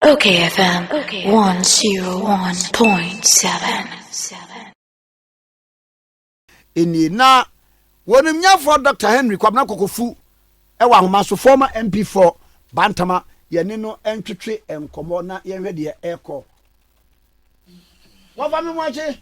Okay, FM 101.7. nie na wɔnim nyɛfoɔ dr henry kwabena kɔkɔfu wɔ ahoma so former mp4 bantama yɛne no ntwetwe nkɔmmɔ na yɛnhwɛ deɛ ɛkɔ wɔfa me moakye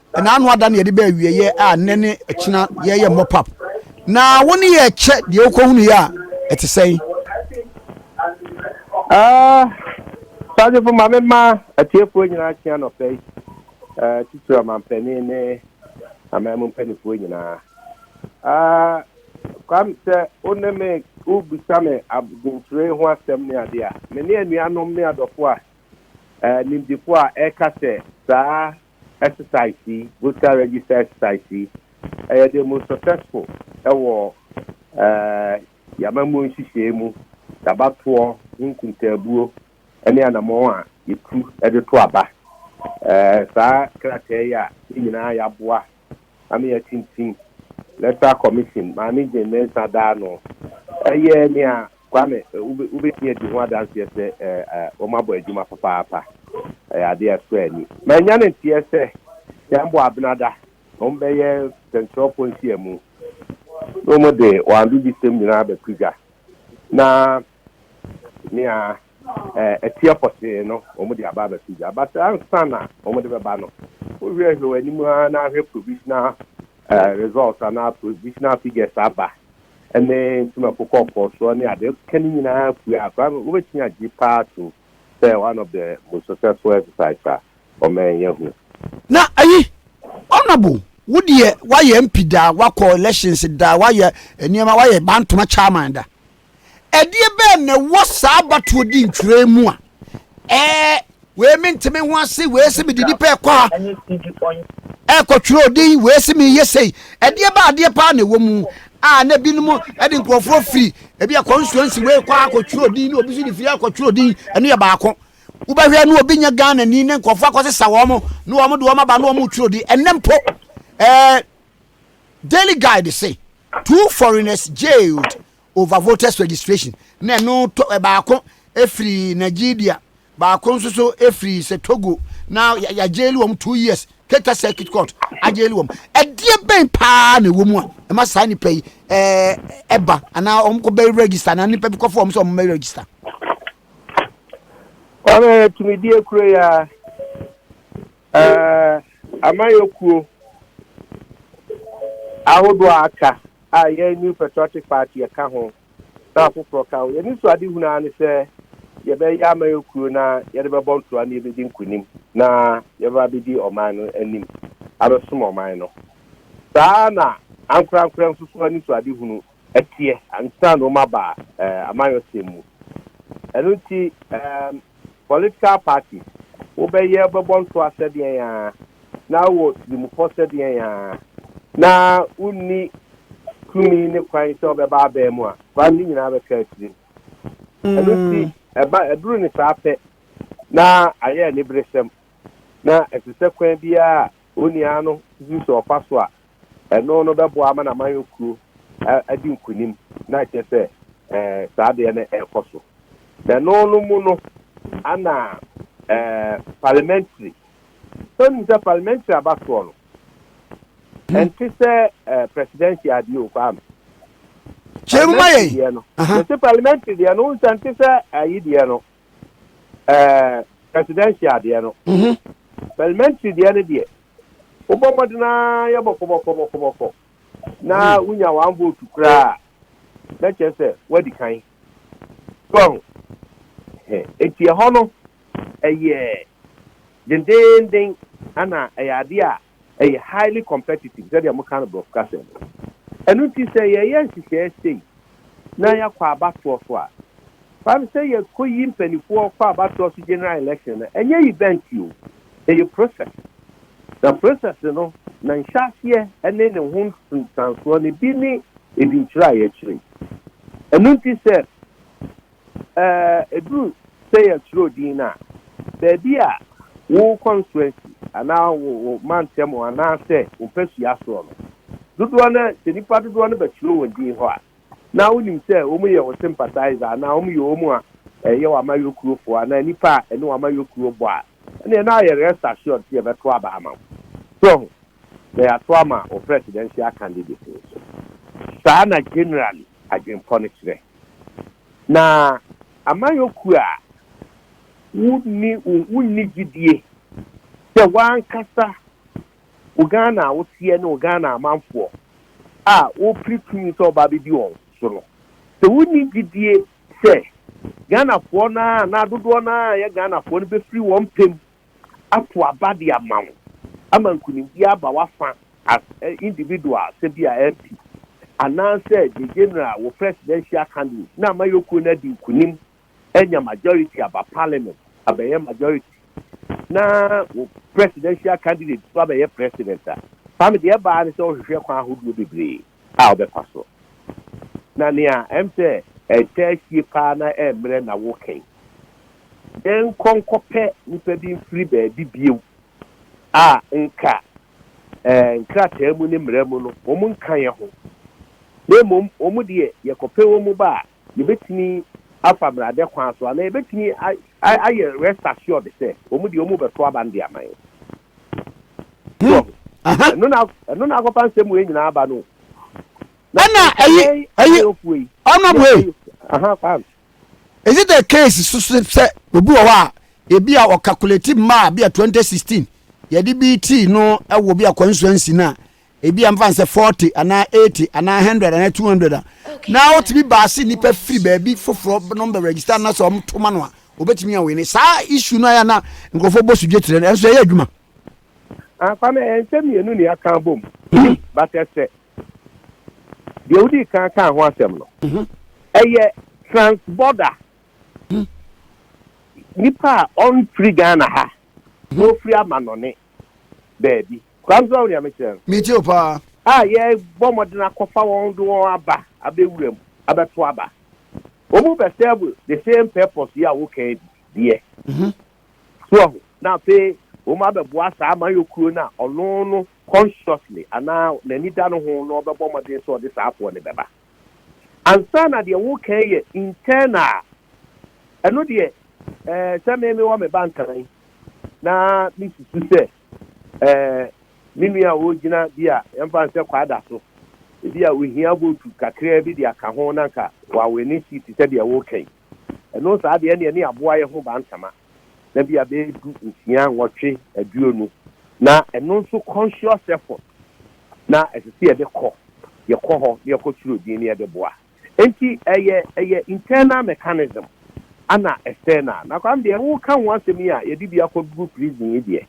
Ɛna ano ada na yɛde bɛ awieɛ a nnɛ ne ɛkyena yɛyɛ mop up. Na wo ne yɛ kyɛ deɛ wokɔ hunu yɛ a ɛte sɛn? Ah, Sagyefo ma me ma atiefoɔ nyinaa kyea nɔpɛ yi. Eh, titiri ɔmampanin ne aman mu mpanimfoɔ nyinaa. Ah, kwam sɛ wo ne me wobisa me adwenkyerɛ ho asɛm ne adeɛ a, me ne anuanom ne adɔfoɔ a eh, nimdefoɔ a ɛka sɛ saa Exercise yi, Voter Register Exercise yi, ɛyɛ the most successful wɔ y'amammuo nhyehyɛɛ mu, y'abatoɔ ho nkuntaabuo ne anamɔn a yɛtu de to aba. Saa krataa yi a yɛn nyinaa y'aboa na me atintim Electoral Commission maa me gye nnansa daa no. Ɛyɛ nea Kwame wobɛtumi adi ho adanseɛ sɛ wɔabɔ adwuma papaapa. Ɛyɛ adeɛ a ɛsɔ ani. Manya ne nteɛ sɛ Kyɛnbo Abenada na wɔbɛyɛ sɛnkyerɛwfoɔ nhyiamu na wɔde wɔn adodisɛm nyinaa abɛto dwa na nea ɛteɛ pɔtee no, wɔde aba abɛto gya. But ansa na wɔde bɛba no, wohwɛhwɛ wɔn anim ara na ahwɛ provisional results anaa provisional figures aba ne ntomako kɔkɔɔ soɔ ne adeɛ. Ka ne nyinaa pue a, koraa no wobɛtumi agye paa atom sɛ one of the most successful exercise a ɔman yi ahu. Na ayi, Honourable, wo deɛ woayɛ MP da, woakɔ elections da, woayɛ nneɛma, woayɛ Bantoma chairman da. Ɛdeɛ bɛn na ɛwɔ saa abatoɔ di ntwerɛ yi mu a ɛɛ wei me nte me ho ase wei se mede nipa ɛkɔ ha ɛkɔ twerɛ odin wei se meyɛ sei ɛdeɛ bɛ adeɛ paa na ɛwɔ mu a na ebinom de nkurɔfoɔ firi ebi akɔ nsuansi wei kɔ akɔ twerɛ odin na obi nso de firi akɔ twerɛ odin ɛno yɛ baako wobɛhwɛ na obi nyɛ Ghana ni na nkurɔfoɔ akɔsesa wɔn na wɔn de wɔn aba na wɔn twerɛ odin ɛnɛ mpo ɛɛ. Daily Guide se, Two foreigners jailed over voters registration, na ɛno tɔ baako firi Nigeria, baako nso so firi sɛ Togo, na yɛajaili wɔn two years, Keta Circuit Court ajaili wɔn. Ɛdeɛ bɛn paa na ɛwɔ mu a ɛma saa nipa yi ɛba anaa wɔn kɔ bɛ register anaa nipa bi kɔfo wɔn sɛ wɔn bɛ register? Wɔn yɛ tumidie kuro yi a. Ɛɛ, amanyɔkuo ahodoɔ a aka a yɛn New Patriotic Party yɛka ho na afoforɔ ka ho, yɛn anisoadehunu ara ne sɛ yɛbɛyɛ amanyɔkuo na yɛde bɛbɔ ntoa na yɛbɛdi nkunim na yɛbɛba abɛdi ɔman no anim abɛsom ɔman no. Saa ara na ankorankorɛ nso so anisoadehunu teɛ ansa na wɔaba amanyɔsɛm mu. Ɛno nti, political parties, wobɛyɛ, wobɛbɔ ntoa sɛdeɛn ara, na wowɔ tirimupɔ sɛdeɛn ara, na wonni tumi ne kwan sɛ wobɛba abɛn mu a, kwan no nyinaa bɛka atirim. Ɛno nti, ɛba, ɛduru ne saa pɛ na ayɛ aniberesɛm, na ɛte sɛ kwan biara a onii ara no susu sɛ ɔfa so a, Ɛno no bɛboa ama n'amanyɔ kuo adi nkunim na akyerɛ sɛ saa adeɛ no ɛrekɔ so. Na ɛno no mu no ana parliamentary, sɛ wonim sɛ parliamentary abasoɔ no ɛnte sɛ presidential adeɛ o kwaa me. Kyerɛ mu ma yɛn. Mese parliamentary deɛ no wohu sɛ ɛnte sɛ ayi deɛ no. ɛɛ presidential deɛ no mhm. parliamentary deɛ no deɛ wobɔ mmɔden ara yɛ bɔkɔbɔkɔbɔkɔbɔkɔ na mhm. wonya one vote koraa na kyerɛ sɛ woadi kan so ho eti ɛhɔ no ɛyɛ dendenden ana ɛyɛ adeɛ a ɛyɛ highly competitive sɛdeɛ moka no brɔfo kasa mu. Ɛno nti sɛ yɛyɛ nhyehyɛɛ sei na yɛakɔ abatoɔ so a, fa no sɛ yɛkɔyi mpanifoɔ kɔ abatoɔ so general election no ɛnyɛ event o, ɛyɛ process. Na process no na nhyɛaseɛ ne ne ho nsunsuansoɔ no bi ne ɛdinkyerɛ a yɛkyerɛ yi. Ɛno nti sɛ. Ɛduru sɛ yɛtwerɛ din no a, baabi a wo constituency anaa wo mantam hɔ anaasɛ wo mpasua soɔ no, dodoɔ no ara, sɛ nnipa dodoɔ no bɛtwerɛ wɔn din hɔ a, na wonim sɛ wɔyɛ wo sympathiser anaa wɔyɛ wɔn a ɛyɛ w'amayɔkurofoɔ anaa nnipa a ɛne w'amayɔkuro bɔ a, ɛnneɛ na ayɛ rest assured sɛ yɛbɛto aba ama wo. So woahu? Na yɛato ama wo presidential candidate nso. Saa na generally adwempɔ no kyerɛ. Na amanyɔkuo a wonni wonni gyidie sɛ w'ankasa wo Ghana a woteɛ ne wo Ghana amanfoɔ a wopere tumi sɛ ɔba bɛdi wɔn so no, sɛ wonni gyidie sɛ Ghanafoɔ no a na dodoɔ no ara yɛ Ghanafoɔ no bɛfiri wɔn pɛ mu ato aba de ama wo ama nkunimdie aba w'afa as a individual sɛ bi a MP anaa sɛ the general wɔ presidential candidate na amayɔkuo no adi nkunim anya majority aba parliament abɛyɛ majority na wo presidential candidate nso abɛyɛ president a, saa no deɛ ɛbaa ne sɛ wohwehwɛ kwan ahodoɔ bebree. a ɔbɛfa so. Na nea ɛm sɛ ɛtaa sie paa na ɛmmerɛ na wo kɛn. Yɛn kɔ nkɔpɛ nipa bi mfiri baabi bio a nka ɛɛ nkrataa mu ne mmara mu no wɔn nka yɛn ho. Na mmom wɔn deɛ yɛkɔpɛ wɔn ba a Yɛbɛtumi afa mmrade kwan so anaa yɛbɛtumi ayɛ rest assured sɛ wɔn deɛ wɔn bɛto aba no de ama yɛn. So ɔho. Ɛno na ɛno na akɔfa nsɛm wei nyinaa aba no. Ɛna ɛyi ɛyi ɔnam wei. Aha kwan. Is it a case so sɛ obi wɔ hɔ a ebi a ɔkakuleti mmaa bi a 2016 yɛde bi tii no wɔ bi a constituency no a ebi a mfa nsɛ forty anaa eighty anaa hundred anaa two hundred a na wotumi baase nipa firi baabi foforɔ nom bɛ register na sɛ wɔn toma no a obetumi awin ne saa issue no ayɛ na nkurɔfoɔ bɔ sudwe kyerɛ no ɛnso ɛyɛ adwuma. afa no ɛyɛ nsɛm mmienu ne aka abom mhm. but ɛsɛ deɛ wodi kan ka ho asɛm no mhm. ɛyɛ transborder mhm. nipa a ɔnfiri ghana ha na ofiri amanɔne baabi. Kwame, so woahu nea mekyerɛ no? Metie wo paa. A yɛbɔ mmɔden akɔfa wɔn de wɔn aba abɛwura mu abɛto aba. Wɔn bɛ serve the same purpose yi a woka yi bi deɛ. So woahu? Na afei wɔn abɛboa saa amayɔkuo no a ɔno no consciously anaa n'ani da no ho na ɔbɛbɔ mmɔden sɛ ɔde saa afoɔ no bɛba. Ansa na deɛ wokan yɛ internal a, ɛno deɛ eh, sɛ me mewɔ me ba nkan na mesusu sɛ eh, me nua a ɔgyina bi a yɛmfa no sɛ kwada so, ebi a ohia votu kakraa bi de aka ho na nka wawene seat sɛdeɛ woka yi. Ɛno saa deɛ ɛneɛ ne aboa yɛ ho bantama na bia bɛyɛ du nsia nwɔtwe aduonu na ɛno nso conscious effort na ɛsɛ sɛ yɛde kɔ yɛkɔ hɔ na yɛkɔ twerɛ din na yɛde boa nti ɛyɛ ɛyɛ internal mechanism ana external na kwam deɛ wo ka ho asɛm yi a yɛde bi akɔ gu prison yi deɛ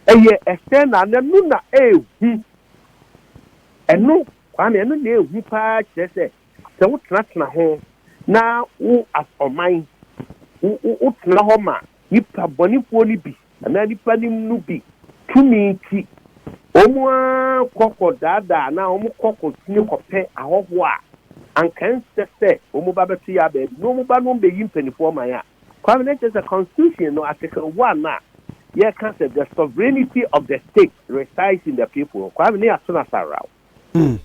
ɛyɛ external na ɛno na ɛhu ɛno kwame ɛno na ɛhu paa kyerɛ sɛ Sɛ wotenatena ho na wo as ɔman wotena hɔ ma nnipa bɔnefoɔ no bi anaa nnipa no mu no bi tumi nti wɔn ara kɔ kɔdaadaa anaa wɔn kɔ kɔsini kɔpɛ ahɔhoɔ a anka ɛnsɛ sɛ wɔn ba bɛto yɛ abaabi na wɔn ba no bɛyi mpanimfoɔ man a Kwame na kyerɛ sɛ constitution no article one a yɛka sɛ the sovereignty of the state resides in the people Kwame ne ato no asawraw. Hmm.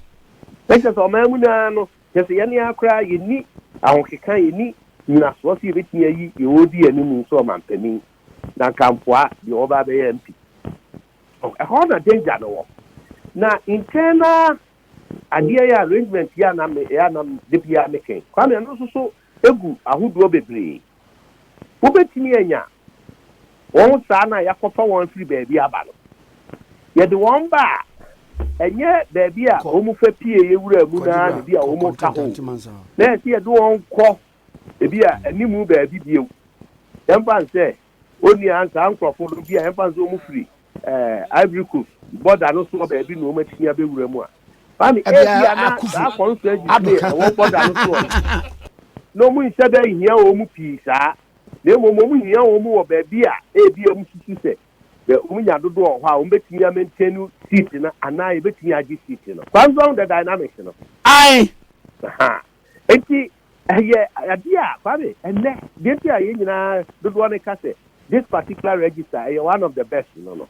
Ɛkyɛ sɛ ɔman mu naa no, kyɛ sɛ yɛne ara koraa yɛnni ahokeka, yɛnni nyinasoɔ sɛ yɛbɛtumi ayi deɛ ɔredi anim nso ɔmampanin na nka mpoa deɛ ɔba abɛyɛ MP. Oh, ɛhɔ na danger no wɔ. Na internal adeɛ yɛ arrangement yɛ anam yɛ anam de biara mekɛn. Kwame ɛno nso so egu ahodoɔ bebree. Wobɛtumi anya Wɔn saa no a yɛakɔfa wɔn afiri baabi aba no, yɛde wɔn ba a, ɛnyɛ baabi a wɔfa pieeɛ wuraa mu no ara na ebia wɔka hɔ o, na yɛse yɛde wɔn kɔ ebia animu baabi bio. Yɛmfa no sɛ, onua, saa nkurɔfoɔ no, ebia yɛmfa no sɛ wɔfiri Ivory Coast bɔda no soɔ baabi na wɔatumi abɛwura mu a, mame, ebia na saa constituencies no a ɛwɔ bɔda no soɔ no, na wɔnhyɛ da nhia wɔn pii saa. na mmom wɔhia wɔn wɔ baabi a ebia wɔsusu sɛ wɔnya dodoɔ wɔ hɔ a wɔbɛtumi a maintain seat no anaa yɛbɛtumi agye seat no. Kwan so ahu the dynamics no. Ae. Ahaa. Enti ɛyɛ adeɛ a, Kwame, ɛnnɛ, deɛ nti a yɛn nyinaa dodoɔ no ka sɛ this particular register ɛyɛ one of the best no no,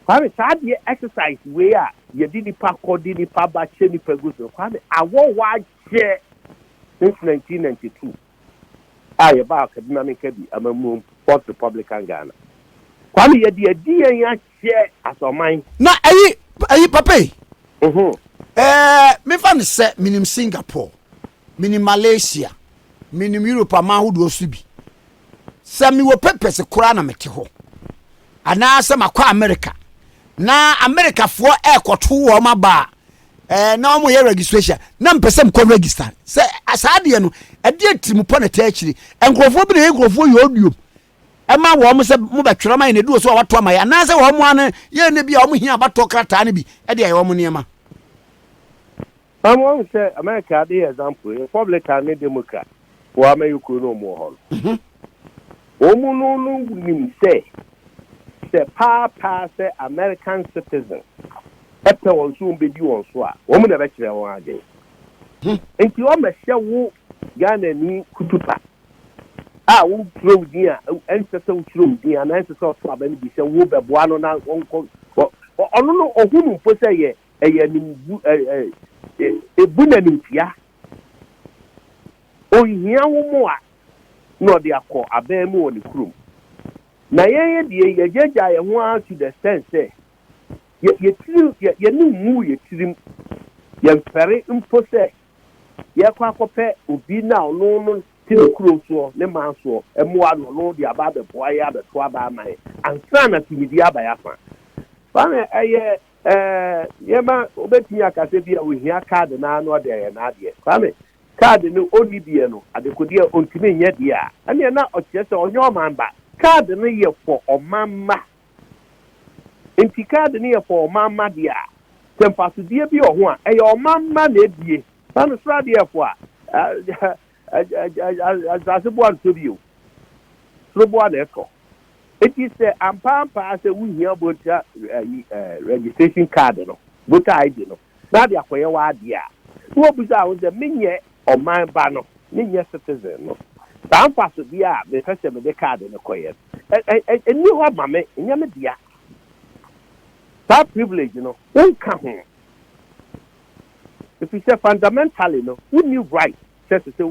Kwame, saa adeɛ exercise wei a yɛde nnipa kɔ, de nnipa ba, kyɛ nnipa gu so no, Kwame, awɔ hɔ akyɛ since 1992. a yɛbaa Kaduna ne Kebbi amammuom, Fourth Republican Ghana. Kwame, yɛde adi yɛn ahyɛ as ɔman. Na ɛyi, ɛyi, Papa yi, Mhm. ɛɛ, memfa no sɛ menim Singapore, menim Malaysia, menim Europe aman ahodoɔ nso bi. Sɛ mewɔ papers koraa na mete hɔ, anaasɛ makɔ America, na Americafoɔ ɛrekɔto wɔn aba a, ɛɛ na wɔn yɛ registration na mpɛ sɛ mkɔ register sɛ saa adeɛ no ɛdeɛ tirimupɔ na ɛtɛ akyire nkurɔfoɔ bi na yɛ nkurɔfoɔ yɛ odiom ɛma wɔn sɛ mo bɛtwerɛ ma yɛ na edu wɔ so a wato ama yɛ anaasɛ wɔn ano yɛ ne bi a wɔn hia abatɔ krataa no bi ɛde ayɛ wɔn nneɛma. Pam wɔn sɛ America de yɛ example Republican ne Democrat. Wɔ Amɛyɛ kuro no ɔmo wɔ hɔ no. Ɔmo no no nim sɛ sɛ paa paa sɛ American citizen ɛpɛ wɔn so wɔn bɛdi wɔn so a ɔmo na ɛbɛkyerɛ wɔn adwen. Nti ɔmɛhyɛ wo Ghana ni kutupa a wo twerɛ wo din a ɛnsɛ sɛ wo twerɛ wo din anaa ɛnsɛ sɛ ɔto aba no bi sɛ wo bɛboa no na ɔnkɔ ɔno no ɔhunu mpo sɛ yɛ ɛyɛ nim bu ɛ ɛ ebu na nimtia Ɔnhia wo mmoa na ɔde akɔ abɛn mu wɔ ne kurom. Na yɛn deɛ yɛagyaagyaa yɛn ho ara to the extent sɛ yɛn tiri, yɛn ani nguu yɛn tirim, yɛmfɛre mpo sɛ yɛrekɔ akɔpɛ obi na ɔno no te ne kuro soɔ, ne man soɔ, mmoa na ɔno de aba abɛboa yɛn, abɛto aba ama yɛn ansa na tumidie aba yɛn afa. Saa na ɛyɛ Ɛɛ, nneɛma, wobɛtumi aka sɛ bi a ɔhia kaade no ara na ɔde ayɛ n'adeɛ. Kwame, kaade no ɔnni deɛ no, adekodeɛ a ɔntumi nyɛ deɛ a, ɛnneɛ na ɔkyerɛ sɛ ɔnyɛ ɔman ba. Kaade no yɛ for ɔman mma. Nti kaade no yɛ for ɔman mma deɛ a, sɛ mfasodeɛ bi wɔ ho a, ɛyɛ ɔman mma na ɛbue. Kwame, sradeɛfoɔ a, Asase boa ntɔ bio, soro boa na ɛtɔ. Enti sɛ ampa ampa ara sɛ wuhia bɔntia ayi registration card no, voter ID no, na ade akɔyɛ w'adeɛ a, na wɔbisa wo sɛ, Menyɛ ɔman ba no? Menyɛ citizen no? Saa mfasodeɛ a mepɛ sɛ mede card no kɔyɛ no, ɛnni hɔ ma me? Ɛnyɛ me dea? Saa privilege no, wonka ho? Efisɛ fundamentally no wonni right sɛ ɛsɛ sɛ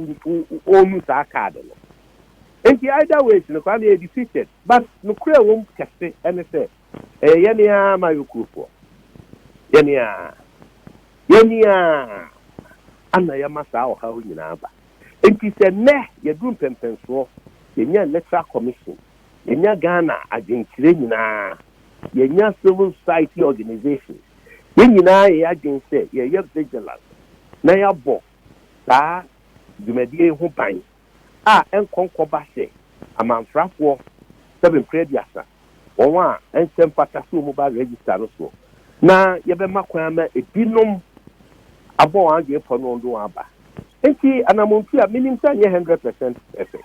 wɔnu saa card no. Enti either ways no Kwame yɛ defeated. But nokorɛ a ɛwɔ mu kɛse ne sɛ ɛyɛ yɛn ara Mayo kurofoɔ. Yɛn ara. Yɛn ara na yɛma saa ɔhaw nyinaa ba. Enti sɛ nnɛ yɛduru mpɛmpɛnsoɔ, yɛnya electoral commission, yɛnya Ghana adwenkyerɛ nyinaa Yɛnya civil society organisations, yɛn nyinaa yɛ yɛn adwene sɛ yɛyɛ vigilant na yɛabɔ saa dwumadie yi ho ban a ɛnkɔ nkɔba sɛ amanfrafoɔ sɛbe mprɛ aduasa wɔn a ɛnsɛ mfata sɛ wɔn ba register no soɔ na yɛbɛma kwan ama ɛbinom abɔ wɔn adwene pɔ no wɔn de wɔn aba. Enti anamɔnpi a minim sɛ ɛnyɛ hundred percent perfect,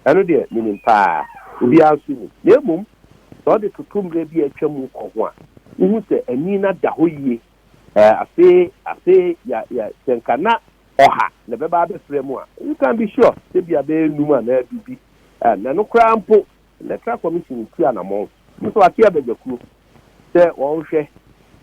ɛno deɛ minim paa, obiara nso nim. Na mmom sɛ ɔde toto mmerɛ bi a atwa mu kɔ ho a, wohu sɛ ani no ada hɔ yie. Ɛɛ, afei, afei ya, ya, sɛ nka na ɔha na ɛbɛba abɛfra mu a, you can be sure sɛ ebia bɛyɛ nnum anaa du bi, ɛɛ, na ɛno koraa mpo, Electoral Commission ntu anamɔn. Mo nso, wɔate abadwakuo sɛ wɔnhwɛ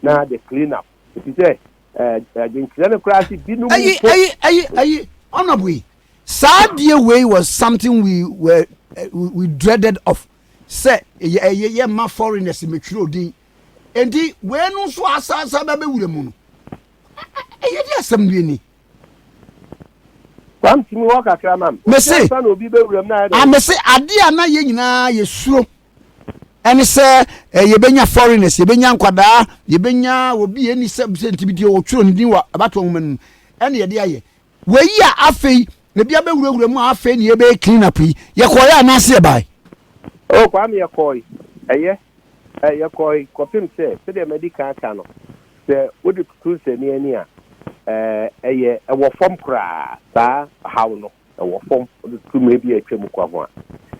na the clean up. efisɛ ɛɛ adwenkyerɛ no koraa se binom mpo. Ayi ayi ayi ayi honourable yi saa deɛ wei was something we were eh, we dreaded of sɛ yɛ yɛ yɛ ma foreigners mɛtwerɛ odin enti wei no nso asansan bɛbɛ wura mu no ɛyɛ de asɛm bi ni Wamtumi hɔ kakra ma me. Mese, Ansa na obi bɛwuram na ayɛ dɛ. a mese adeɛ a na yɛn nyinaa yɛsuro ɛne sɛ eh, yɛbɛnya foreigners yɛbɛnya nkwadaa yɛbɛnya obi ɛni sɛ sɛ nti bi deɛ wɔtwerɛ ne din wɔ abatoɔ nwoma no mu ɛne yɛde ayɛ wei a afei ebi abɛwurawura mu a afei ne yɛbɛyɛ clean up yi yɛkɔɔyɛ anaase yɛbae o kwame yɛkɔɔe ɛyɛ Yɛkɔe kɔpem sɛ, sɛdeɛ madi kan aka no, sɛ wode toto nsania ani a, ɛyɛ wɔ fam koraa. Saa haw no wɔ fam, wode toto mmerɛ bi a atwam kwa ho a.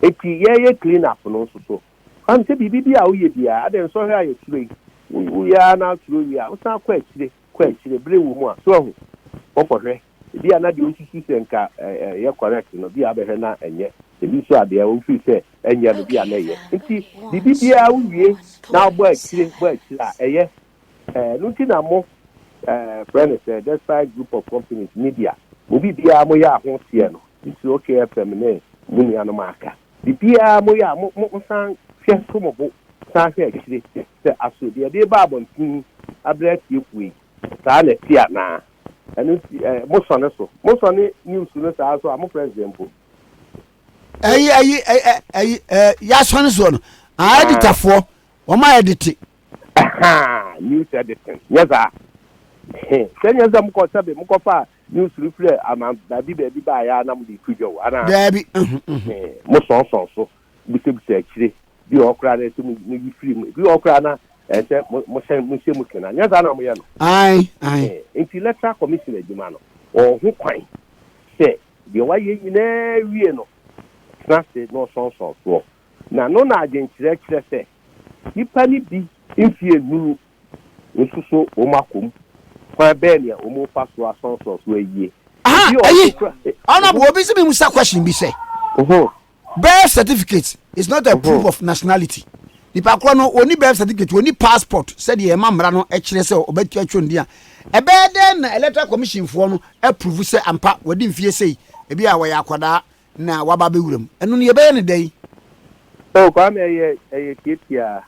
Enti yɛreyɛ clean up no nso so, woahu sɛ biribi bi a woyɛ biara, adɛn nsɔhwɛ a yɛsuro yi, woyɛ ara na asuro wie a, wosan kɔ akyire, kɔ akyire, berɛ wɔ mu a, so ahu? Wɔkɔhwɛ. Ebia na deɛ ɔsusu sɛ nka ɛyɛ correct no, bia abɛhwɛ na ɛnyɛ. Ebi nso a deɛ ɔfiri sɛ ɛnyɛ no, bia na ɛyɛ. Nti biribi biara wowie na wobɔ akyire bɔ akyire a, ɛyɛ. Ɛno nti na mo frɛ no sɛ Despite Group of Companies Media. Mo biribiara moyɛ a ho teɛ no, titiri OK FM ne mo nuanom a aka. Biribiara moyɛ a mo mo san hwɛ to mo bo san hwɛ akyire sɛ aso deɛ ɛde reba abɔnten abrɛ atiefoɔ yi. Saa na ɛte anaa? Ɛno nti eh, mosɔ ne so. Mosɔ ne news no saa so a, mo president mpo. Ɛyi ɛyi ɛyi ɛyi ɛɛ yasɔ ne soɔ no. Ah, Ah. editafoɔ, wɔn a yɛdete. Ahaa, news editing. Nyɛ saa. He, sɛ nyɛ sɛ mokɔ sɛbe mokɔfa news no firi aman baabi baabi baeɛ a na mode to dwa o, anaa? Daabi, mhm, mhm. He, mosɔnsɔn so. bisabisa akyire. Ebi wɔ hɔ koraa na ɛsɛ sɛ mo yi firi mu. Ebi wɔ hɔ koraa na ɛsɛ sɛ mo mo hyɛ mo hyɛ mu kena. Anyɛ saa na wɔyɛ no? Ae, ae. Ɛhɛn. Enti Electoral Commission adwuma no, ɔwɔ ho kwan sɛ deɛ wayɛ nyinaa wie no, ɔtena ase na ɔsɔnsɔn soɔ. Na no na adwenkyerɛ kyerɛ sɛ nnipa no bi mfeɛ nnuru nso so wɔn akɔ mu. Kwan bɛn nea wɔn refa so asɔnsɔn so ayie? Aha, Ebi wɔ hɔ ayi, nso koraa. ɔnam, obi se me musa question bi sɛ. Ohoo. Birth certificate is not a proof of nationality. Nipa korɔ no wɔni birth certificate, wɔni passport sɛdeɛ ɛma mmara no ɛkyerɛ sɛ ɔbɛtua twɛ ndin a. Ɛbɛyɛ dɛn na electoral commission foɔ no approve sɛ ampa wadi mfie sei, ebi a wɔyɛ akwadaa na waba abɛwura mu. Ɛno no yɛbɛyɛ no dɛn? Oh Kwame ɛyɛ ɛyɛ tiatiaa.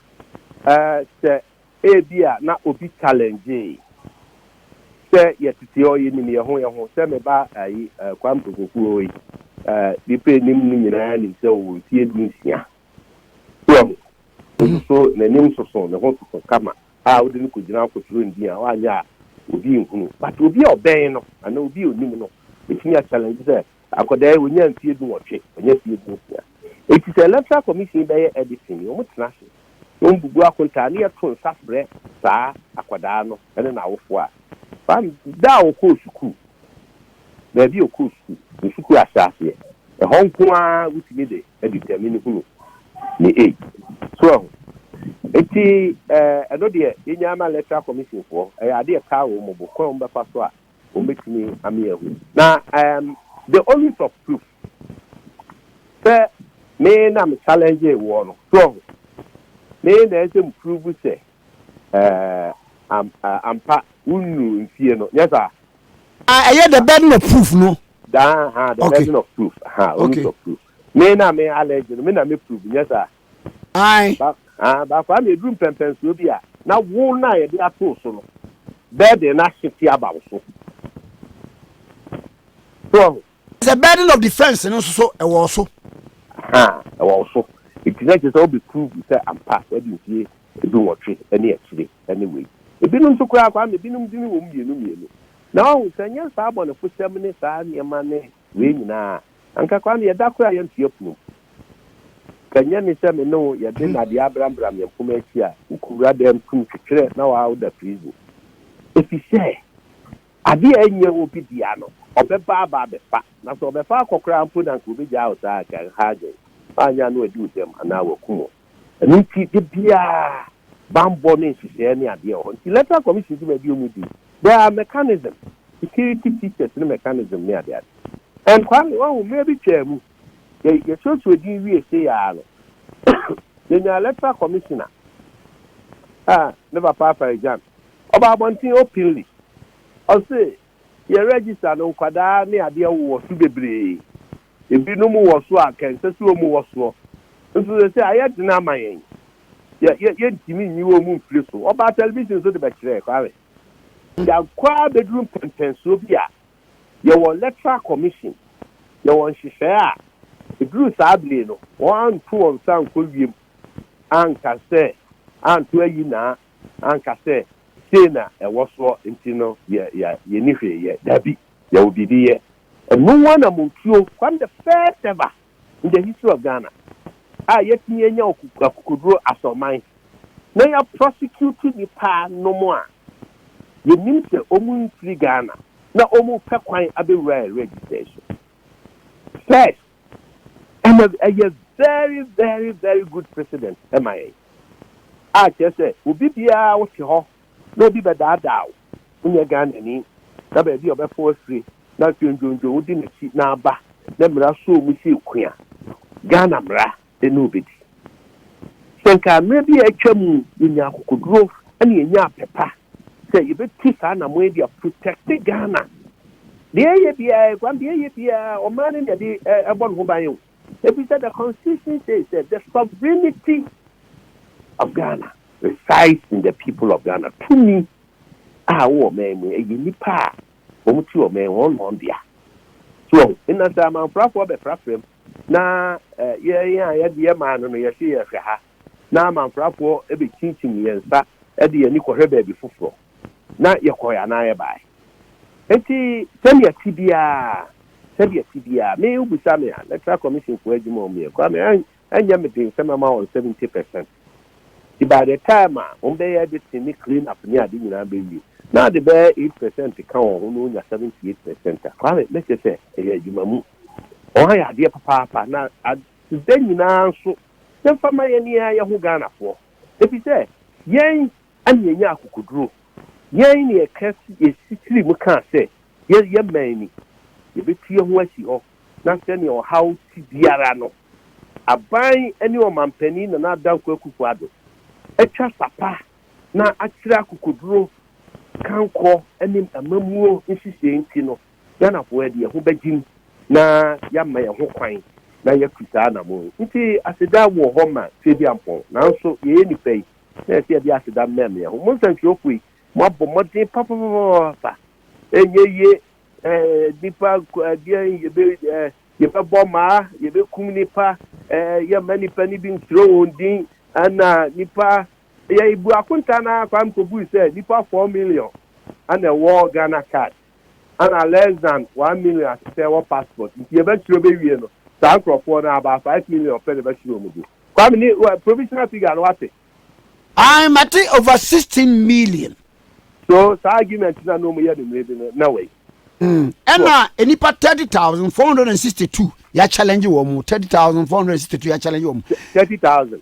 Ɛɛ sɛ Ebia na obi challengee sɛ yɛtete hɔ, yenim yɛn ho yɛn ho. Sɛ me ba ayi eh, Kwame Pokuokuo wɔ yi, eh, nnipa anim no nyinaa nim sɛ ɔwɔ mfie du nsia. So ahu, nso n'anim soso, ne ho soso kama a wode no kɔgyina akɔtwerɛ ndin a, wanyɛ a, obi nhunu. But obi a ɔbɛn no, anaa obi a onim no, bɛtumi a challenge sɛ, Akwadaa yi, ɔnyaa mfeɛ dunwɔtwe, wanya mfeɛ dunsia. Enti sɛ Electoral Commission yi bɛyɛ editing yi, wɔtena ase na wɔbubu akontaa na yɛto nsa frɛ saa akwadaa no ne n'awofoɔ a fam da a ɔkɔɔ sukuu, baabi a ɔkɔɔ sukuu, ne sukuu ahyɛaseɛ, ɛhɔ nko ara wotumi de determine hunu ne age. So ahu? Enti ɛno deɛ, yɛnyaa ma Electoral Commission foɔ, ɛyɛ adeɛ a ɛkaa wɔn bo, kwan a wɔbɛfa so a wɔbɛtumi ame ahu. Na um, the onus of proof sɛ me na me challenge wɔ no soɔ ho me na ɛsɛ mu prove sɛ uh, am, uh, ampa wonnu mfie no nyɛ saa ah, ɛyɛ the burden of proof no daa ha the okay. burden of proof ha onus okay. of proof me na me allege no me na me prove nyɛ saa Ae. Ba, ah, baako ara na eduru mpɛmpɛnsoɔ bi a, na wo no a yɛde ato so no, burden no ahwete aba wo so. So ɔho? Sɛ burden of defense no nso so ɛwɔ wo so. Ha, ɛwɔ wo so. Eti na kyerɛ sɛ wobɛ prove sɛ ampa wadi mfie edu nwɔtwe ɛne akyire ɛne wei. Ebinom nso koraa Kwame, ebinom dini wɔ mu mmienu mmienu. Na wahu sɛ nyɛ saa abɔnefo hyɛm ne saa nneɛma ne Wei nyinaa, anka koraa no yɛda koraa yɛn mfeɛ pono mu. Anka ɛnyɛ me sɛ me ne wo yɛde nnadeɛ abrambram yɛn mpoma akyi a, wokɔwura dɛm tum twetwerɛ na waa woda prison. Ɛfiri sɛ, adeɛ a ɛnyɛ wo bi dea no, ɔbɛba aba abɛfa. Na sɛ ɔbɛfa akɔ koraa mpo no, anka ɔbɛgyaa wo saa, anka nhagen, woannya no adi wo dam anaa wakum wo. Ɛno nti da biara bammɔ ne nhyehyɛɛ ne adeɛ wɔ hɔ. Nti Electoral Commission dwuma bi ɔmu di. There are mechanism, security features ne mechanism ne ade ade. And Kwame, wahu mmerɛ bi twaa mu, yɛ suasua din wie sei ara no, yɛnyaa Electoral Commissioner a ne papa Afari Gyan, ɔbaa abɔnten openly, ɔse yɛ register no nkwadaa ne adeɛ wowɔ so bebree. Ebinom wɔ so a, anka ɛnsɛ sɛ wɔwɔ soɔ. Nso seesei ayɛ den ama yɛn. Yɛ, yɛ, yɛntumi nyi wɔn mfiri so. Wɔbaa television so de bɛkyerɛɛ, Kwame. Yɛakɔ ara bɛduru mpɛnpɛnsoɔ bi a, yɛwɔ electoral commission, yɛwɔ nhyehyɛeɛ a, ɛduru saa bere no, wɔanto wɔn nsa ankɔ wiem, anka sɛ, anto ayi naa, anka sɛ, sei na ɛwɔ soɔ, nti no, yɛ, yɛ, yɛnni hwee yɛ. Dabi, yɛwɔ biribi yɛ. Ɛno nwa na Montuo kwan the first ever in the history of Ghana a yɛatumi anya akokoduro asɔrman na yɛ prosecute nnipa nom a yɛnim sɛ wɔn mfiri Ghana na wɔn repɛ kwan abɛwura yɛ register so. First, ɛna ɛyɛ very very very good precedent ma yɛn a kyerɛ sɛ obi biara wote hɔ na obi bɛdaadaa wo wonyɛ Ghanani na baabi a ɔbɛfa w'afire na afei ndwondwo wodi n'akyi na aba na mmara sɔɔ mu sɛ ku a, Ghana mmara ne wo bɛdi. Sɛ nka mmerɛ bi a atwa mu yɛnyaa akokoduro na yɛnyaa apɛ pa sɛ yɛbɛtu saa anammɔn yi de a protect Ghana. Deɛ yɛyɛ biara, Kwame, deɛ yɛyɛ biara ɔman no na ɛde ɛbɔ ne ho ban o. Efisɛ the constitution says that the sovereignty of Ghana resides in the people of Ghana. Tumi a wɔ ɔman mu ɛyɛ nnipa a wɔn ti ɔman wɔn na wɔn dea. So nna sɛ amanfrafoɔ bɛfrafra mu na yɛn a yɛde yɛ maa no no yɛsi yɛhwɛ ha. na amanfrafoɔ bɛkyinkyim yɛn nsa de yɛn ani kɔhwɛ baabi foforɔ, na yɛkɔeɛ anaa yɛbaeɛ. Enti sɛdeɛ ɛte biara, sɛdeɛ ɛte biara, me wobisa me a, Electoral Commission foɔ adwuma a wɔyɛ no koraa me ɛnyɛ me den sɛ mɛma wɔn 70 percent. Nti by the time a wɔbɛyɛ editing ne clean up ne ade nyinaa bɛwie, na ade bɛyɛ 8 percent ka wɔn ho na wɔnya 78 percent a, Kwame, mɛkyerɛ sɛ ɛyɛ adwuma mu. Wɔayɛ adeɛ papaapa na Da nyinaa nso yɛmfa mma yɛn yɛn ara yɛn ho Ghanafoɔ efisɛ yɛn na yɛnya akokoduro, yɛn na yɛka si yɛsi tiri mu kaa sɛ yɛ yɛ man ni, yɛbɛtu yɛn ho asi hɔ na sɛdeɛ ɔhaw te biara no aban ne ɔmanpanin Nana Adanko Akufo Addo atwa sapa na akyerɛ akokoduro kankorɔ ne amammuo nhyehyɛe nti no, Ghanafoɔ de yɛn ho bɛgyim na yɛama yɛn ho kwan na yɛatu saa anamɔn yi. Nti aseda wɔ hɔ ma Tweduampɔn, nanso yɛyɛ nnipa yi na ɛsɛ yɛde aseda mmɛm yɛn ho. Mo nsɛntwerɛfoɔ yi, moabɔ mmɔden papapapapaapa. Ɛnyɛ yie, eh, nnipa ko, ɛdeɛn, yɛbɛ, eh, yɛbɛbɔ mmaa, yɛbɛkum nnipa, eh, yɛmma nnipa no bi ntwerɛ wɔn din, ɛna nnipa, yɛbu akonta no ara, Kwame kɔbui sɛ nnipa four million ɛna ɛwɔ Ghana card. ana less than one million ahyehyɛ wɔ passport nti yɛbɛkyerɛ bɛwie no saa nkorɔfoɔ no about five million pɛ na ɛbɛhyerɛ wɔn do Kwame ne wɔ provisional figure no wate. Ae mate over sixteen million. So saa argument na na wɔn yɛ no mmerɛ bi no na wei. Mm, ɛna nipa thirty thousand four hundred and sixty two yɛ challenge wɔn thirty thousand four hundred and sixty two yɛ challenge wɔn. Thirty thousand.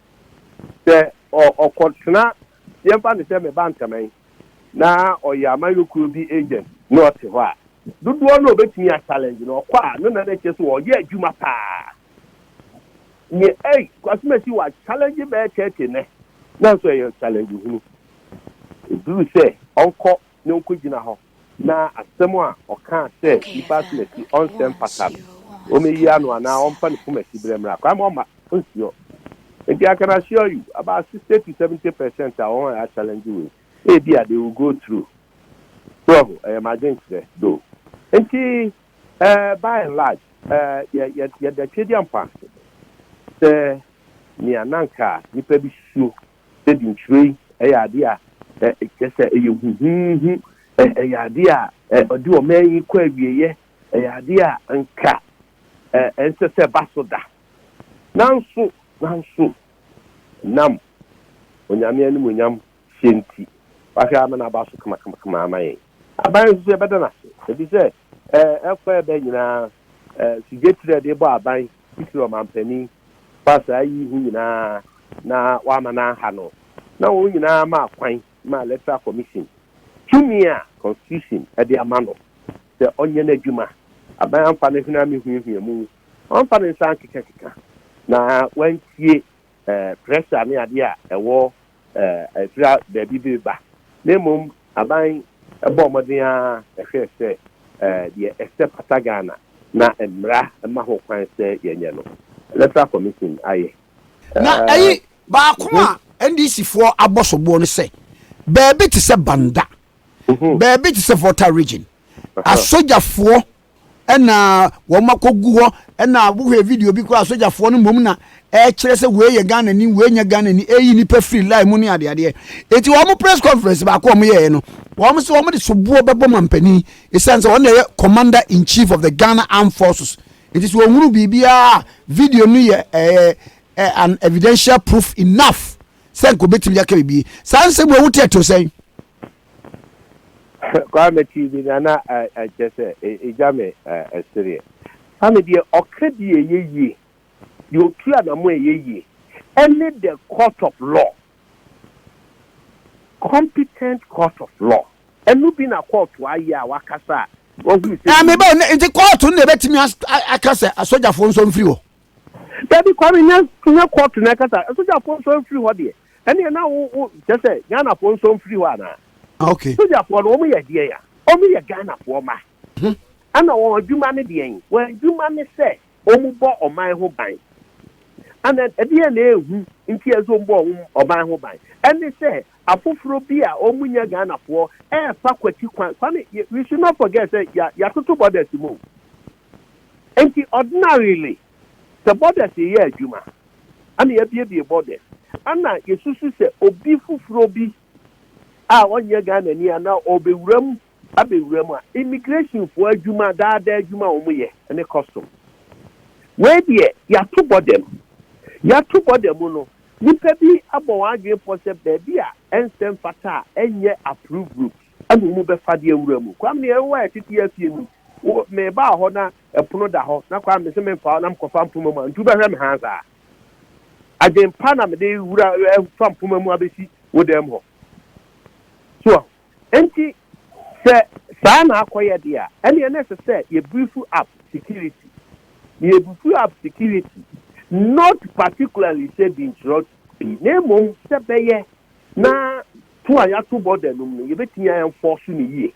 sɛ ɔkɔtena, yɛmfa no sɛ meba Ntaman na ɔyɛ amanyɔkuo bi agent na ɔte hɔ a, dodoɔ no ɔbɛtumi a challenge no, ɔkɔ a no na na ɛkyerɛ sɛ ɔyɛ adwuma paa. Nyɛ ei, Kwasi Masi wa challenge bɛyɛ 30 nɛ, nanso ɛyɛ challenge hunu. Ɛduru sɛ ɔnkɔ na onkogyina hɔ na asɛm a ɔkaa sɛ nnipa asom akyi ɔnsɛ mfata no, wɔmeyia no anaa ɔmfa ne poma siberɛ mmra, kwan ma ɔmma ɔnsiɔ. Enti I can assure you, about sixty to seventy percent a wɔn a yɛa challenge wei, ebia they will go through. So wɔho, ɛyɛ m'adwenkyerɛ though. Enti eh, by and large, eh, yɛ, yɛ, yɛda Twedeampɔn ase sɛ nea na anka nnipa bi suo sɛ dintwerɛ yi yɛ adeɛ a kyerɛ sɛ ɛyɛ huhuuhu, ɛyɛ adeɛ a ɔde ɔman yi kɔ awieɛ, ɛyɛ adeɛ a anka ɛnsɛ sɛ ɛba so da. Nanso, nanso, ɛnam Onyame animuonyam hyɛ nti, wahwɛ ama no aba so kamakamakama ama yɛn. Aban nso so yɛbɛda no ase, ɛfiri sɛ Ɛfɔɛbɛ nyinaa, Sigyekyerɛ de bɔ aban titiri ɔmanpanin fa saa yi ho nyinaa na wama no aha no, na wɔn nyinaa maa kwan maa Electoral Commission tumi a Constitution de ama no sɛ ɔnyɛ n'adwuma. Aban amfa no hwene amehuahua mu, wamfa ne nsa ankekakeka, na wantie pressure ne adeɛ a ɛwɔ ɛsra baabi de ba, na mmom aban bɔɔ mmɔden ara hwɛɛ sɛ deɛ ɛsɛ fata Ghana na mmara ma ho kwan sɛ yɛnyɛ no, Electoral Commission ayɛ. Na ɛyi baako a NDC foɔ abɔ soboɔ no sɛ baabi te sɛ Banda, baabi te sɛ Volta Region, asogyafoɔ Ɛna wɔn akɔgu hɔ, ɛna wohwɛ video bi koraa sogyafoɔ no mmom na ɛkyerɛ sɛ wei yɛ Ghana ni, wei nyɛ Ghana ni, ɛyi nipa firi line mu ne adeadeɛ. Eti wɔn press conference baako wɔn yɛɛ no, wɔn sɛ wɔn de soboɔ bɛbɔ mampanin, esiane sɛ wɔn na ɛyɛ Commander in Chief of the Ghana Armed Forces. Eti sɛ wɔhunu biribiara a, video no yɛ ɛɛ ɛ an evidential proof enough sɛ nka obetumi aka biribi. Saa nsɛm wɔ ɛho teɛtew sɛn? Kwaa mɛtee bi na na ɛkyɛ sɛ ɛgya me sereɛ. Kwame deɛ ɔka bi a ɛyɛ yie, deɛ ɔtu anamo a ɛyɛ yie ɛne the court of law, competent court of law. Ɛno bi na kɔɔto ayɛ a wakasa a wahunu sɛ. Ɛɛ meba o, nti kɔɔto no na ɛbɛtumi aka sɛ asogyafoɔ nso mfiri hɔ? Dabi Kwame nyɛ nyɛ court na ɛkasa sogyafoɔ nso mfiri hɔ deɛ ɛneɛ na wo wo kyɛ sɛ Ghanafoɔ nso mfiri hɔ anaa Ok. sogyafoɔ no wɔn yɛ deɛn a wɔn yɛ Ghanafoɔ mma ɛna wɔn adwuma ne deɛn wɔn adwuma ne sɛ wɔn bɔ ɔman ho ban ɛna ɛdeɛ na ɛhu nti ɛsɛ wɔn bɔ wɔn ɔman ho ban ɛne sɛ afoforɔ bi a wɔn nyɛ Ghanafoɔ ɛɛfa kwati kwan Kwame yɛ- we should not forget sɛ yɛ- yɛatoto borders mu o. Enti ordinarily sɛ borders yeyɛ adwuma ɛna yɛabiebie borders ɛna yɛsusu sɛ obi foforɔ bi a ɔnyɛ Ghanani ana ɔbɛwura mu abɛwura mu a immigration foɔ adwuma daadaa adwuma a wɔn yɛ ɛne custom wei deɛ yɛato border mu yɛato border mu no nipa bi abɔ wɔn adwene pɔ sɛ baabi a ɛnsɛ mfata a ɛnyɛ approved route. Amu mu bɛfa deɛ wura mu. Kwame ne yɛwɔ yɛ tete yɛ fie mu. Wo me baa hɔ na ɛpono da hɔ na Kwame se menfa hɔ na me kɔfa mpoma mu a ntu bɛhwɛ me haa saa. Adwen pa na mede wura fa mpoma mu abɛsi wo dan mu hɔ. So wahu? Enti sɛ saa na akɔyɛ deɛ a ɛneɛ na ɛsɛ sɛ yɛ beef up security. Na yɛ beef up security not particularly sɛ di nkyerɛ pii na mmom sɛ bɛyɛ na To a yɛato bɔ da num no, yɛbɛtumi a enforce no yie.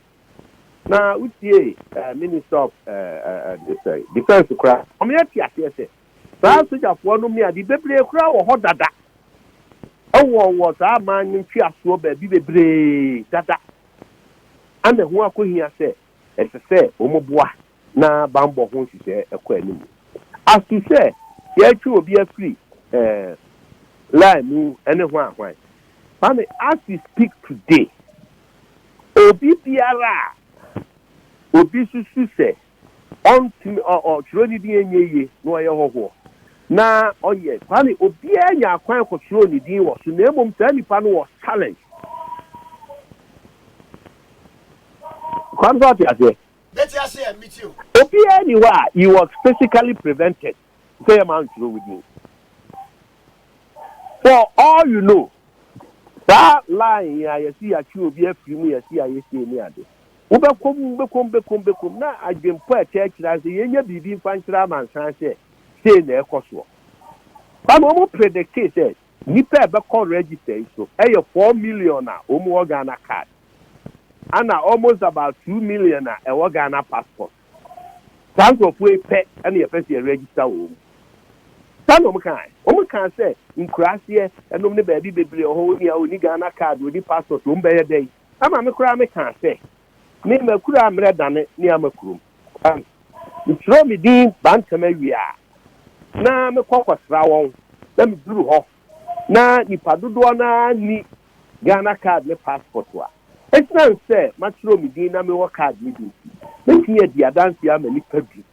Na wotiee eh, Minister of eh, eh, eh, Defence koraa, wɔyɛ te aseɛ sɛ saa sogyafoɔ nom ne ade bebree koraa wɔ hɔ dada ɛwɔ wɔ saa aman no ntweasoɔ baabi bebree dada ana ɛho akɔhia sɛ ɛsɛ sɛ wɔn boa. na bammɔ ho nhyehyɛe ɛkɔ anim. Aso sɛ yɛretwe obi afiri eh, lie mu ne hwan hwan? Mame, as we speak today, obi biara a obi susu sɛ ɔntumi, ɔ, ɔtwerɛ ne din ɛnyɛ yie na ɔyɛ hɔhoɔ na ɔyɛ, Kwame, obiara nya akwan kɔtwerɛ ne din wɔ so na mmom saa nipa no was challenged. Kwame, sɛ ɔte aseɛ? Obiara nni hɔ a he was physically prevented sɛ yɛmma ntwerɛ wo din. For all you know, saa line yi a yɛse yɛatwe obi afiri mu, yɛse yɛayɛ sei ne ade, wobɛkɔ mu, wobɛkɔ mu, wobɛkɔ mu, wobɛkɔ mu, na adwempɔ a ɛkyerɛkyerɛ ara ne sɛ yɛnnya biribi mfa nkyerɛ amansan sɛ sei na ɛrekɔ soɔ. Ba na wɔn predictee sɛ nnipa a ɛbɛkɔ register yi so yɛ four million a wɔn wɔ Ghana card. ana almost about two million a ɛwɔ Ghana passport. Saa nkurɔfoɔ yi pɛ na yɛpɛ sɛ yɛ register wɔn. Saa na wɔn kaa. Wɔn kaa sɛ nkuraaseɛ ɛnom ne baabi bebree wɔ hɔ wɔn nua ɔni Ghana card ɔni passport wɔn bɛyɛ dɛn. Ɛma me koraa me kaa sɛ me makura mmerɛ dane ne ama kurom. Ɛn me twerɛ me din Bantam awie a na me kɔ kɔ sra wɔn na me duru hɔ na nnipa dodoɔ no ara nni Ghana card ne passport a, ɛsiane sɛ matwerɛ me din na mewɔ card no bi nti, mɛtumi adi adanseɛ ama nnipa du.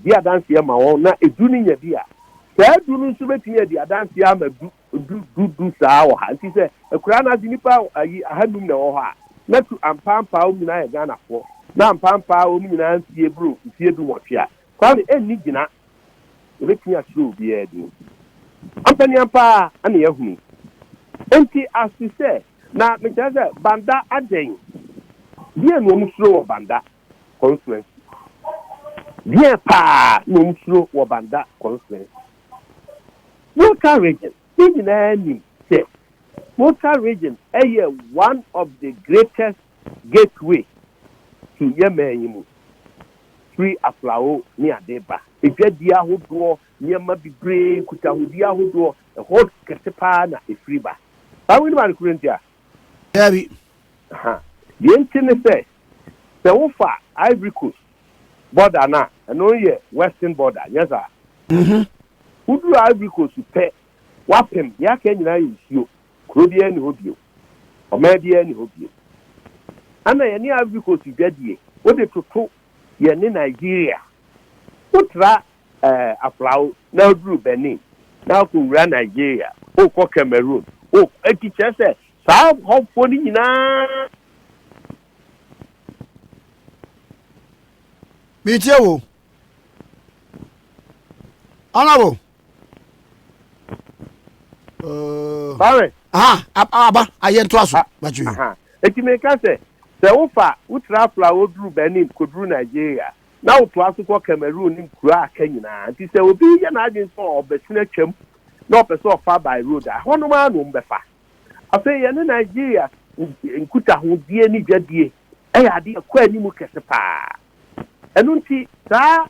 Di adanseɛ ma wɔn na edu no nya bi a, saa du no nso bɛtumi adi adanseɛ ama du, du, du, du saa wɔ ha. Nti sɛ akuraa no ase nnipa ayi ahanum na ɛwɔ hɔ a, na tu ampaampaa wɔn nyinaa yɛ Ghanafoɔ, na ampaampaa wɔn nyinaa mfeɛ boro mfeɛ du nwɔtwe a, Kwame anni gyina yɛbɛtumi akyerɛ obiara din. Ampaneampa ara na yɛahunu. Enti ase sɛ, na mekyerɛ sɛ Banda adɛn? Deɛn na wɔn suro wɔ Banda constituency? Deɛn paa na wɔn suro wɔ Banda constituency? Volta region, yɛn nyinaa nim sɛ Volta region yɛ one of the greatest Gateway tu yɛn man yi mu firi aflawo ne ade ba. Adwadie ahodoɔ, nneɛma bebree, nkutahodie ahodoɔ, ɛhɔ kɛse pa ara na ɛfiri ba. Saa wei no ma no kuro nti a? Daabi. Aha. Deɛ nti ne sɛ, sɛ wofa Ivory Coast border no a, ɛno yɛ western border, nyɛ saa? Mhm. Woduru Ivory Coast pɛ, wapem, deɛ aka nyinaa yɛ nsuo. Kuro biara nni hɔ bio. Ɔman biara nni hɔ bio. Ɛna yɛne Ivory Coast dwadie. Wode toto yɛne Nigeria. Wotra ɛɛ Aflao na woduru Benin na wokɔwura Nigeria. Wokɔ Cameroon. Wokɔ enti kyerɛ sɛ saa hɔfoɔ no nyinaa. Meretie wo. honorable uh, Barry aha aba ayɛ ntoa so batwi eti mi ka sɛ sɛ wofa wotra afla woduru Benin koduru Nigeria na wotoa so kɔ Cameroon ne nkuro a aka nyinaa nti sɛ obi yɛ n'adwene sɛ ɔbɛsene atwam na ɔpɛ sɛ ɔfa by road a hɔnom ara na wɔn bɛfa afei yɛne Nigeria nkutahodie ne dwadie ɛyɛ adeɛ kɔ anim kɛse paa Ɛno nti, saa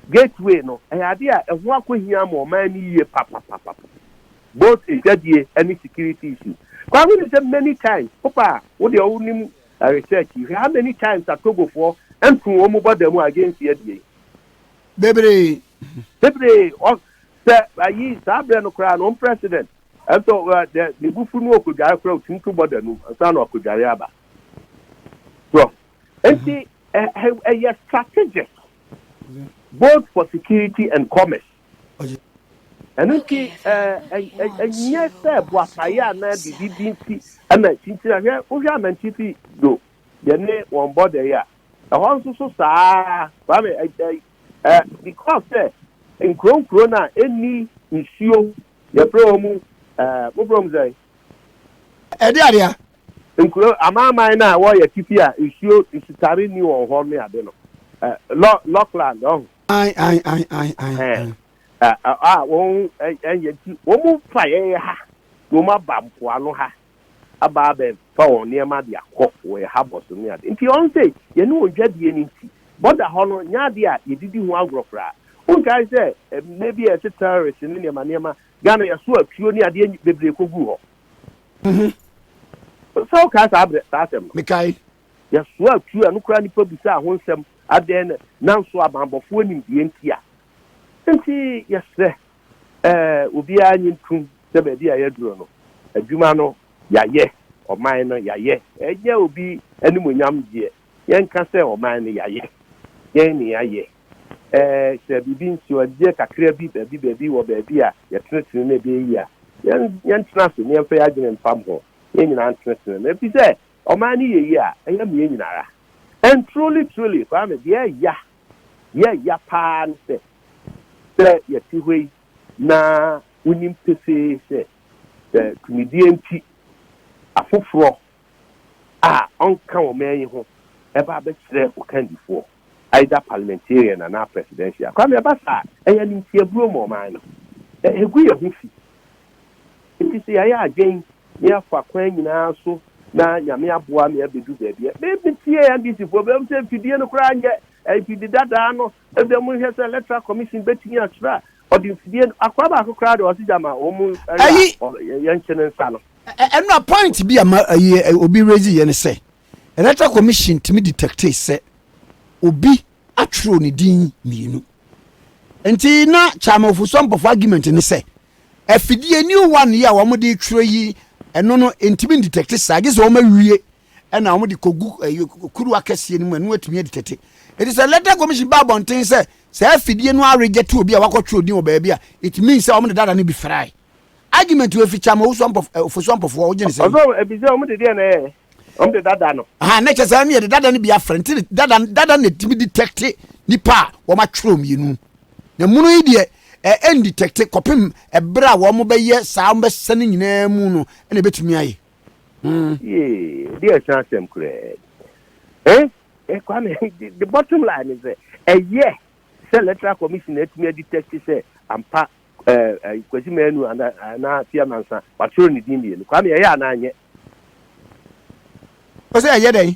Gateway no, ɛyɛ adeɛ a ɛho akɔhia ama ɔman no yie papapapapa, both adwadie ne security issue. Kwan wonim sɛ many times, woba a, wo deɛ wonim research yi, hwɛ how many times a Togofoɔ nto wɔn border mu against yɛdeɛ yi? Bebree. Bebree. Ɔ, sɛ, ayi, saa berɛ no koraa no, wɔn President, nso, ɛ, ne bo fu no ɔkɔdware koraa, ɔtumi to border no mu ansa na wakɔdware aba. So, nti, Ɛyɛ strategic both for security and commerce. Ɛno nti ɛnyɛ sɛ boapayɛ anaa biribi bi nti ɛna nkyinkyini hwɛ wohwɛ amantifi do yɛne wɔn bɔdɛ yi a ɛhɔ nso so saa kwame because sɛ nkuro nkuro no a ɛnni nsuo yɛfrɛ wɔn mu moborɔ mu sɛ ɛde adeɛ Nkuro, amanaman no a ɛwɔ yɛn atifi a nsuo nsutare nni wɔn hɔ ne ade no, Lo, Lockland, ɔho. Ae, ae, ae, ae, ae, ae. Ɛɛ, a, a, a wɔn, ɛ, ɛ, yɛn ti, wɔn fa yɛn ha, na wɔn aba mpoano ha, aba abɛ fa wɔn nneɛma de akɔ wɔ yɛn habɔ so ne ade. Nti wɔn sɛ, yɛne wɔn dwa die no nti, bɔda hɔ no nyɛ adeɛ a yɛdidi ho agorɔ koraa. Wonkae sɛ, ɛ, mmerɛ bi a yɛte terrorist ne nneɛma nneɛma, Ghana yɛso atuo ne adeɛ bebree kɔguu hɔ. Mhm. Sɛ wokae saa berɛ, saa asɛm no. Mekae. Yɛsoaa tuo a ɛno koraa nnipa bisaa ho nsɛm, adɛn na nanso abammɔfoɔ nim deɛ nti a. Enti yɛsrɛ eh, obiara nnye ntom sɛ baabi a yɛaduru no, adwuma no yɛayɛ, ɔman no yɛayɛ. Ɛnyɛ obi animuonyam deɛ. Yɛnka sɛ ɔman no yɛayɛ dɛn na yɛayɛ? Ɛɛ, sɛ biribi, nsuadeɛ kakra bi, baabi baabi wɔ baabi a yɛtenetene na ɛbɛyɛ yie a, yɛn, yɛntena ase na yɛmfa yɛn adwene mfa mmɔ ho. Yɛn nyinaa ntenetene no. Ɛfiri sɛ, ɔman no yɛ yie a, ɛyɛ me yɛn nyinaa. And truly, truly, Kwame, deɛ ɛya, deɛ ɛya pa ara ne sɛ, sɛ yɛte hɔ yi na wonim pefee sɛ, sɛ tumidie nti afoforɔ a ɔnka ɔman yi ho ɛba abɛkyerɛ wo kandifoɔ, either parliamentarian anaa presidential. Kwame, ɛba saa a, ɛyɛ animtiabuo ma ɔman no. Ɛ, ɛgu yɛn ho fi. Nti sɛ yɛayɛ adwen na yɛafa kwan nyinaa so na Nyame aboa me abɛdu baabi a, me, metie NDCfoɔ, bɛhu sɛ mfidie no koraa nyɛ, ɛɛ, mfidi dadaa no, Ebia monhwɛ sɛ electoral commission betumi akyerɛ a ɔde mfidie no akora baako koraa de ɔsi gya ma wɔn mu ɛyɛ a Ayi. ɔ- yɛ- yɛnkye ne nsa no. Ɛ- ɛ- ɛno a point bi a ma ayi ɛ, obi raise yɛ ne sɛ electoral commission tumi detect sɛ obi atwerɛ ne din mmienu nti na chairman ofuso ampɔfo argument ne sɛ afidie new one yi a wɔn de twerɛ yi ɛno no ntumi detect saa gye sɛ wɔn awie Ɛna wɔde kɔgu kuruwa kɛseɛ no mu a na wɔatumi adi tete. Ɛti sɛ Electoral Commission ba abɔnten sɛ saa afidie no arejɛte obi a wakɔtwe odin wɔ baabi a, it means sɛ wɔde dada no bi frae. Argument wɔ efi Kyama Ofosu Ampɔfoɔ wogye ne sɛ yi. Ɔsɛ ebi sɛ wɔde deɛ na ɛyɛ wɔde dada no. Aha, na kyɛ sɛ ɛne yɛde dada no bi afra nti dada dada na ɛtumi detɛkte nipa a wɔatwerɛ mmienu. Na munu yi deɛ ɛndetɛkte kɔpem ɛberɛ a wɔbɛyɛ saa wɔbɛsɛne nyinaa mu no ɛna ɛbɛtumi ayɛ. Mm. Yeah, dear chance them correct. Eh? Eh, Kwame, the, the bottom line is that a year, say electoral commission at me detect say I'm pa eh, eh, kwasi menu and and I fear mansa, but through the dimmy. Kwame, yeah, and I. Ɔsɛ ɛyɛ dɛn?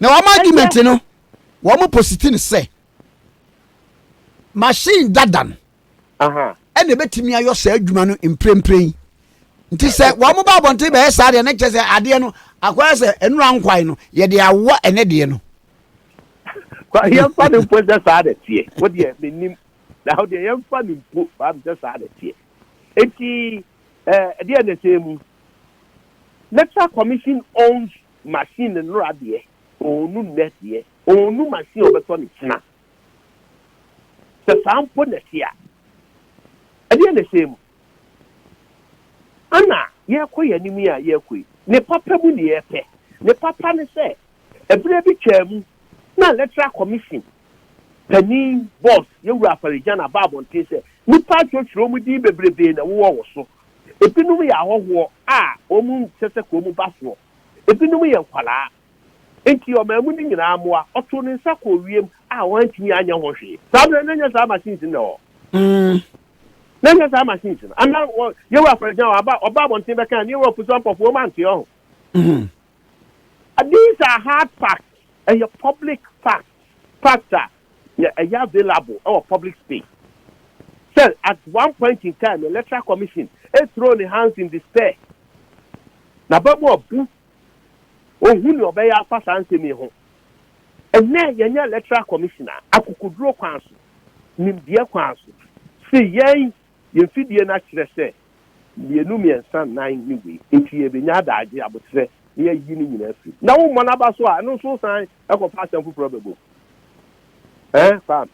Na wɔn argument no, wɔn positi no sɛ machine dada no ɛna ɛbɛtumi ayɔ saa adwuma no mprempren. Nti sɛ wɔn ba abɔnten bɛyɛ saa deɛ ne kyɛ sɛ adeɛ no akɔyɛ sɛ nnura nkwan no yɛde awɔ ɛnɛ deɛ no. Yɛmfa no mpo sɛ saa na ɛteɛ. Wodeɛ menim na wodeɛ yɛmfa no mpo baa me sɛ saa na ɛteɛ. Enti ɛdeɛ na ɛsɛ mu. Electoral Commission owns machine no nora deɛ ɔɔnu nnɛ deɛ ɔɔnu machine a ɔbɛtɔ no kyena. Sɛ saa mpo na ɛte a, ɛdeɛn na ɛhyɛɛ mu? Ɛna yɛrekɔ yɛn anim yi a yɛrekɔ yi, ne papa mu ne yɛrepɛ. Ne papa ne sɛ, ɛberɛ bi twaa mu na Electoral Commission panin, boss, Yɛwura Afari Gyana baa abɔnten sɛ, nnipa atwotwere wɔn din bebrebe na ɛwowɔ wo so. Ebinom yɛ ahɔhoɔ a wɔn nkyɛ sɛ kɔn mu ba soɔ. Ebinom yɛ nkwadaa. Enti ɔmaa mu no nyinaa mmoa. Ɔtoo ne nsa kɔɔ wiem a wɔantumi anyɛ ho hwee. Saa berɛ no, na ɛnyɛ saa machines no na ɛwɔ hɔ. Na ɛnyɛ saa machines no. Anaa wɔ, Yehowa for example, aba, ɔba abɔnten bɛka ne Yehowa pusu ampɔfo, wɔn anteɛ ho. These are hard facts. Ɛyɛ public facts. Facts a na ɛyɛ available wɔ public space. Sɛ at one point in time electoral commission throw ne hands in despair, n'abamu abu, ɔnhu nea ɔbɛyɛ afa saa nsɛm yi ho. Ɛnnɛ yɛnyɛ electoral commission a akokoduro kwan so, nimdeɛ kwan so, se yɛn Yɛn mfidie no akyerɛ sɛ mmienu mmiɛnsa nnan ne wei, enti yɛrebɛnya adagye aboterɛ na yɛayi ne nyinaa afiri mu. Na wommɔ no aba so a, ɛno nso wosan kɔfa asɛm foforɔ bɛbɔ mu. Ɛɛ Kwame?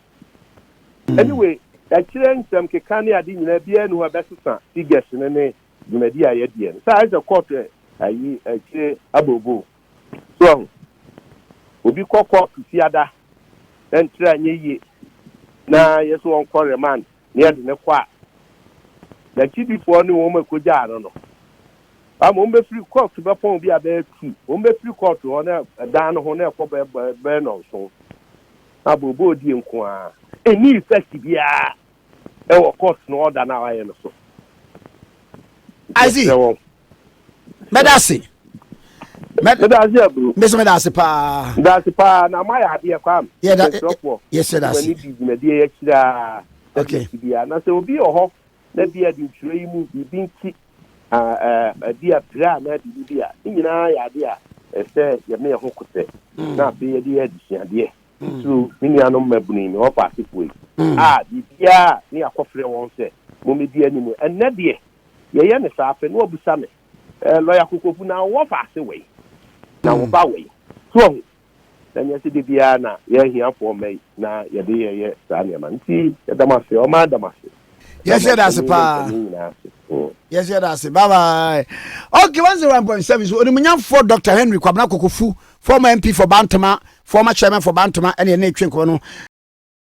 Anyway, ɛkyerɛ nsɛm keka ne ade nyinaa biara nni hɔ a ɛbɛsesa figures no ne dwumadie a yɛadiɛ no. Sɛ ayɛ sɛ court ayi akyire abooboo. So wahu? Obi kɔ court Fiada na ne tiri anyɛ yie na yɛse ɔnkɔ remand. ne yɛde no kɔ a, n'akyidifoɔ ne wɔn a ɛkɔgyaa no no, ama wɔn bɛfiri kɔɔto bɛpɔn bi a bɛyɛ tu, wɔn bɛfiri kɔɔto hɔ na ɛdan no ho na ɛkɔ bɛyɛ bɛ, bɛyɛ nnɔnson, na booboo die nko ara. Ɛnni effect biara ɛwɔ court no order no a wayɛ no so. I see. Yɛsrɛ wɔn. mɛda ase mɛda ase aburo mbese mɛda ase paa mɛda ase paa na ama yɛ adeɛ kwam yɛda ɛsrɛfoɔ yɛsɛ da ase di dwumadie yɛ kyiraa okay bi a na sɛ obi wɔ hɔ na bi a de ntwerɛ yi mu biribi nti bi a pere a na biribi bi a ne nyinaa yɛ adeɛ a ɛsɛ yɛme yɛ ho kosɛ mm. na afei yɛde yɛ adesuadeɛ mm. titiriw me nuanom mmabunu yi me hɔ faasefoɔ yi mm. a biribiaa ne akɔfrɛ wɔn sɛ mommɛdi anim ɛnnɛ deɛ Yɛyɛ no saa afei na wabisa me, Eh, Lɔya Kokofu, na wo wɔfa ase wei? Na wo ba wei? So wahu? Na nyɛ sɛ da biara na yɛn ahiafoɔ mma yi na yɛde yɛyɛ saa nneɛma no. Nti yɛda mo ase, ɔman ada mo ase. Yɛ hyɛ da ase paa. Yɛ hyɛ da ase. Bye bye. Okay, one zero one point seven. So onimnyamfoɔ Dr. Henry Kwabena Kokofu, former MP for Bantama, former chairman for Bantama, ɛna ɛna etwe nkɔmɔ no.